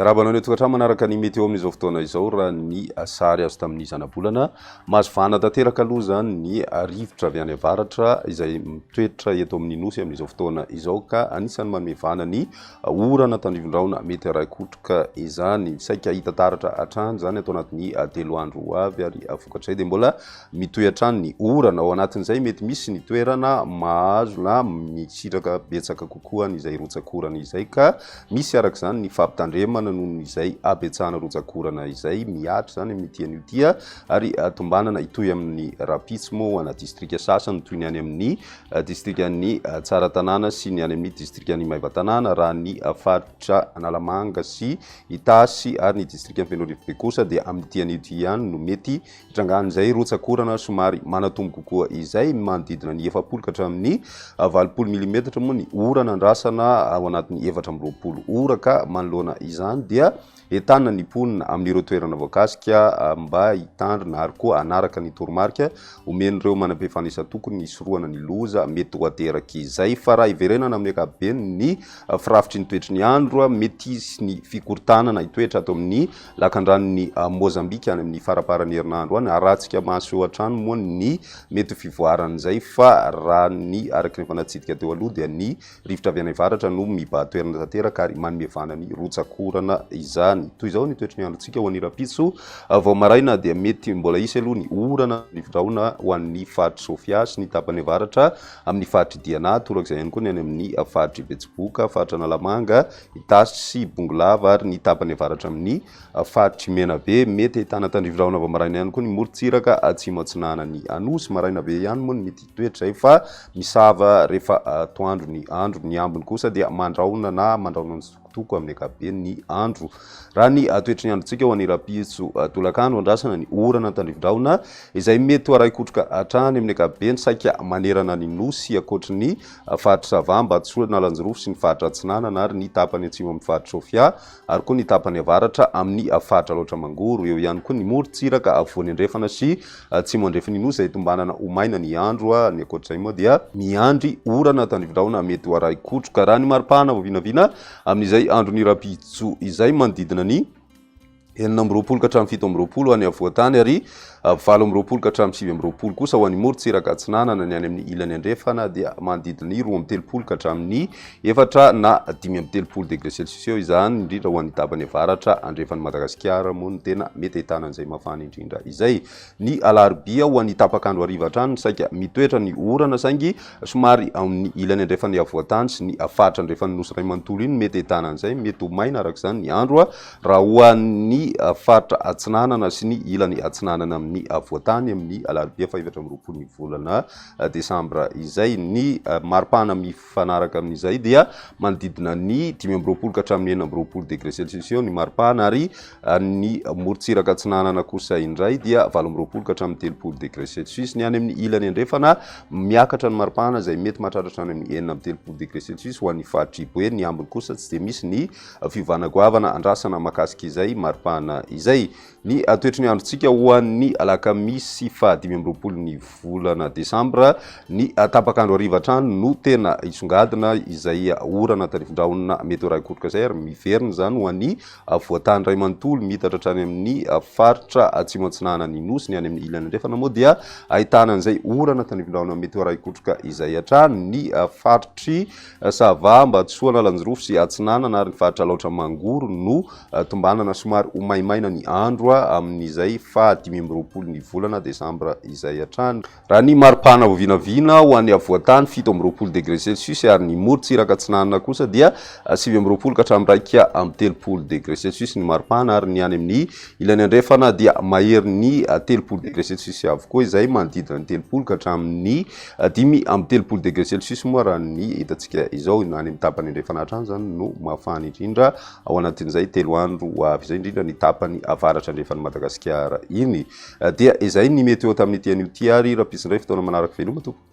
Miarahaba anao tokantrano manaraka ny météo amin'izao fotoana izao raha ny sary azo tamin'ny zanabolana. Mazivana tanteraka aloha izany ny rivotra avy any avaratra izay mitoetra eto amin'ny nosy amin'izao fotoana izao ka anisan'ny manome vana ny Orana tandrivon-drahona mety haray kotroka izany. Saika hahita taratra hatrany izany ato anatin'ny telo andro ho avy ary vokatr'izay dia mbola mitohy hatrany ny orana. Ao anatin'izay mety misy ny toerana mahazo na misitraka betsaka kokoa an'izay rotsakorana izay ka misy araka izany ny fampitandremana noho izay habetsahana rotsakorana izay mihatra izany amin'ity anio ity ary tombanana hitohy amin'ny rahampitso moa ho ana distrika sasany toy ny any amin'ny distrikan'i Tsaratanàna sy ny any amin'ny distrikan'i Maevatanàna, raha ny faritra Analamanga sy Itasy ary ny distrikan'i Fenoarivo be kosa dia amin'ity anio ity ihany no mety hitrangan'izay rotsak'orana somary manatombo kokoa izay, manodidina ny efapolo ka hatramin'ny valopolo milimetatra moa ny orana andrasana ao anatin'ny efatra amby roapolo ora ka manoloana izany dia Entana ny mponina amin'ireo toerana voakasika mba hitandrina ary koa hanaraka ny toromarika omen'ireo manam-pifandrisa tokony hisorohana ny loza mety ho ateraky izay. Fa raha hiverenana amin'ny ankapobeny ny firafitry ny toetry ny andro, mety hisy ny fikorontanana hitoetra ato amin'ny lakandranon'i Mozambika any amin'ny faramparan'ny herinandro any. Haratsika maso eo hatrany moa ny mety ho fivoaran'izay fa raha ny araky ny efa natsidika teo aloha dia ny Rivotra avy any avaratra no mibaha toerana tanteraka ary manome vana ny rotsak'orana izany. Toy izao ny toetry ny androntsika ho an'ny rahampitso, vao maraina dia mety mbola hisy aloha ny orana na rivodraona ho an'ny faritr'i Sofia sy ny tapany avaratra amin'ny faritr'i Diana, torak'izay ihany koa ny any amin'ny faritr'i Betsiboka, faritra Analamanga, Itasy sy Bongolava ary ny tapany avaratra amin'ny faritr'i Menabe. Mety ahitana tandrivodraona vao maraina ihany koa ny morontsiraka atsimo atsinanan'i Anosy, maraina be ihany moa ny midika. toetra izay fa misava rehefa atoandro ny andro, ny ambiny kosa dia mandraona na mandraona ny sokotoko amin'ny ankapobeny ny andro. Raha ny toetry ny androntsika ho any Rapiso tolakandro andrasana ny orana tandrifin-drahona izay mety ho arahin-kotroka hatrany amin'ny ankapobeny saika manerana ny nosy ankoatry ny faritra Sava, Ambatosora, Analanjirofo sy ny faritra Atsinanana ary ny tapany atsimo amin'ny faritra Sofia. ary koa ny tapany avaratra amin' ny faritra Alaotra Mangoro, eo ihany koa ny morontsiraka afovoany andrefana sy atsimo andrefin' ny Nosy izay tombanana ho maina ny andro, ny ankoatra izay moa dia miandry orana tandrivindrahona mety ho arahi kotroka raha ny maripahana vao vinavina amin' izay andron' ny rahampitso izay manodidina ny enina amby roapolo ka hatramin' ny fito amby roapolo any afovoan-tany ary Valo amby roapolo ka hatramin'ny sivy amby roapolo kosa ho an'ny morontsiraka atsinanana ny any amin'ny ilany andrefana dia manodidina ny roa amby telopolo ka hatramin'ny efatra na dimy amby telopolo degré celsius eo izany indrindra ho an'ny tapany avaratra andrefan'i Madagasikara moa no tena mety ahitana an'izay mafana indrindra izay. Ny alarobia ho an'ny tapak'andro hariva hatrany no saika mitoetra ny orana saingy somary ao amin'ny ilany andrefan'ny afovoan-tany sy ny faritra andrefan'ny nosy iray manontolo iny no mety ahitana an'izay. Mety ho maina araka izany ny andro. Raha ho an'ny faritra Atsinanana sy ny ilany Atsinanana amin'ny Afovoantany, amin'ny alarobia fahefatra amby roapolon'ny volana desambra izay, ny maripana mifanaraka amin'izay dia manodidina ny dimy amby roapolo ka hatramin'ny enina amby roapolo degre celsius eo ny maripana ary ny morontsiraka atsinanana kosa indray dia valo amby roapolo ka hatramin'ny telopolo degre celsius. Ny any amin'ny ilany andrefana, miakatra ny maripana izay mety mahatratra hatrany amin'ny enina amby telopolo degre celsius ho an'ny faritr'i Boeny, ny ambiny kosa tsy dia misy ny Fiovana goavana andrasana mahakasika izay maripana izay. Ny toetry ny androntsika ho an'ny alakamisy faha dimy amby roapolo ny volana desambra, ny tapak'andro hariva hatrany no tena hisongadina izay orana tarifindrahona mety ho raikoroka izay ary miverina izany ho an'ny voantany iray manontolo miitatra hatrany amin'ny faritra atsimo antsinanan'ny nosy. Ny any amin'ny ilany andrefana moa dia ahitana an'izay orana tanifindrahona mety ho raikoroka izay hatrany ny faritry Ça va, Ambatosoa, Analanjirofo sy Atsinanana ary ny faritra Alaotra Mangoro no tombanana somary ho maimaina ny andro amin'izay faha dimy amby roapolo ny volana desambra izay hatrany, raha ny maripana vao vinavina ho an'ny afovoan-tany fito amby roapolo degre celsius ary ny morontsiraka atsinanana kosa dia sivy amby roapolo ka hatramin'ny iraika amby telopolo degre celsius ny maripana ary ny any amin'ny ilany andrefana dia maherin'ny telopolo degre celsius avokoa izay manodidina ny telopolo ka hatramin'ny Dimy amby telopolo degré celsius moa raha ny hitantsika izao, na any amin'ny tapany andrefana hatrany izany no mafana indrindra, ao anatin'izay telo andro ho avy izay, indrindra ny tapany avaratra andrefan'i Madagasikara iny. Dia izay ny météo tamin'ity anio ity ary rahampitsindray fotoana manaraka, veloma tompoko.